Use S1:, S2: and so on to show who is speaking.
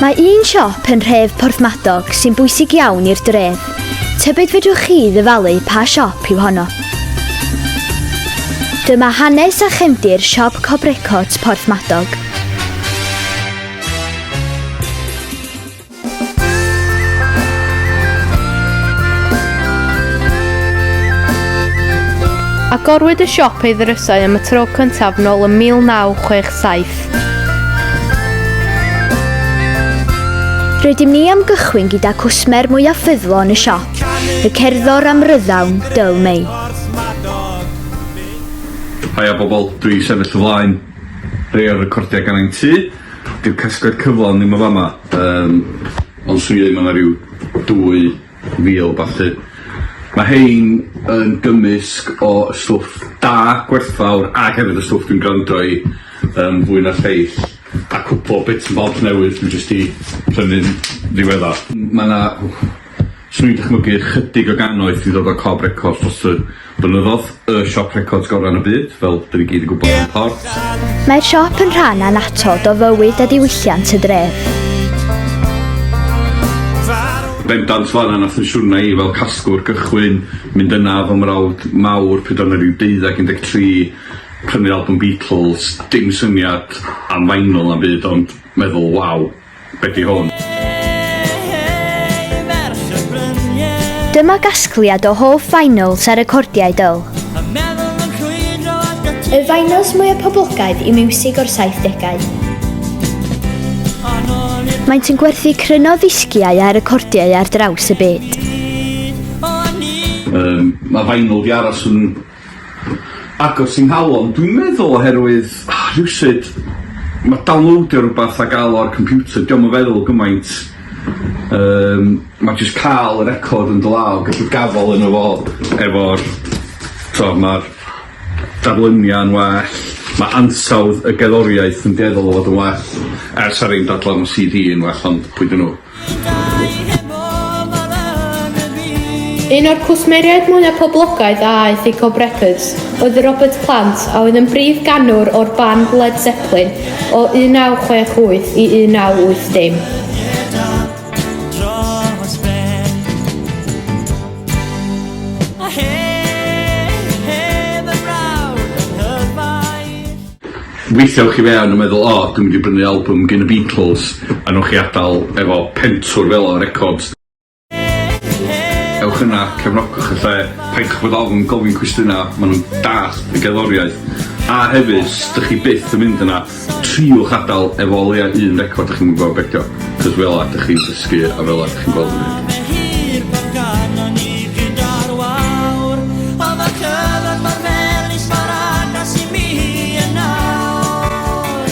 S1: Mae un siop yn rhef Porthmadog sy'n bwysig iawn i'r dref. Tybyd fedrwch chi ddyfalu pa siop yw honno? Dyma hanes a chefndir siop Cobrecots Porthmadog. Agorwyd y siop ei ddrysau am y tro cyntaf nôl ym 1967. Rydym ni am gychwyn gyda cwsmer mwyaf ffyddlon y siop, y cerddor am ryddawn, Dyl May. Haia bobl, dwi sefyll y flaen. Rhei o'r recordia gan ein tŷ. Dyw casgliad cyflawn ddim yn fama yym ond swn i ddeud ma' 'na ryw dwy fil ballu. Ma' rhein yn gymysg o y stwff da, gwerthfawr ag hefyd y stwff dwi'n gwrando i yym fwy na lleill a cwpwl o bits and bobs newydd dwi jyst 'di prynu'n ddiweddar. M- ma' 'na swn i'n dychmygu ychydig o gannoedd 'di dod o Cob Records dros y Defnyddiodd y siop records gorau yn y byd, fel dyn ni gyd yn gwybod yn Port. Mae'r siop yn rhan annatod o fywyd a diwylliant y dref. Bendant fan'na na thensiynau i fel casglwr gychwyn mynd yna fy mrawd mawr pryd o'n i ryw deuddag un deg tri prynu albwm Beatles dim syniad am vinyl na'm byd ond meddwl waw. Be di hwn? Dyma gasgliad o hoff vinyls a recordiau Dyl. Y vinyls mwyaf poblogaidd i miwsig o'r 70au. Maent yn gwerthu cryno ddisgiau a recordiau ar draws y byd. Um, mae vinyl di aros yn agos i nghalon dwi'n meddwl oherwydd rhywsut ma' downloadio rwbath a ga'l o ar computer dio'm yn feddwl gymaint yym ma' jyst ca'l y record yn dy law gallu gafal yno fo efo'r t'o' ma'r darlunia'n well ma' ansawdd y gerddoriaeth yn dueddol o fod yn well er sa rei'n dadla ma' See Dee yn well ond pwy 'dyn nw? Un o'r cwsmeriaid mwyaf poblogaidd a aeth i Cob Records oedd Robert Plant a oedd yn brif ganwr o'r band Led Zeppelin o 1968 i 1980. Weithiau ewch i fewn a meddwl 'O, dwi'n mynd i brynu albwm gin y Beatles' a newch chi adael efo pentwr fela o records. Ewch yna, cefnogwch y lle, paidwch bod ofn gofyn cwestiynau, maen nhw'n dallt y gerddoriaeth. A hefyd, os dych chi byth yn mynd yna, triwch adael efo o leiaf un record dych chi'm yn gwybod be 'di o. Jyst fela dych chi'n dysgu a fela dych chi'n gweld yn mynd. Mae hir bob gano ni gyda'r wawr O mae'r cyfan mor melys mor agos i mi yn awr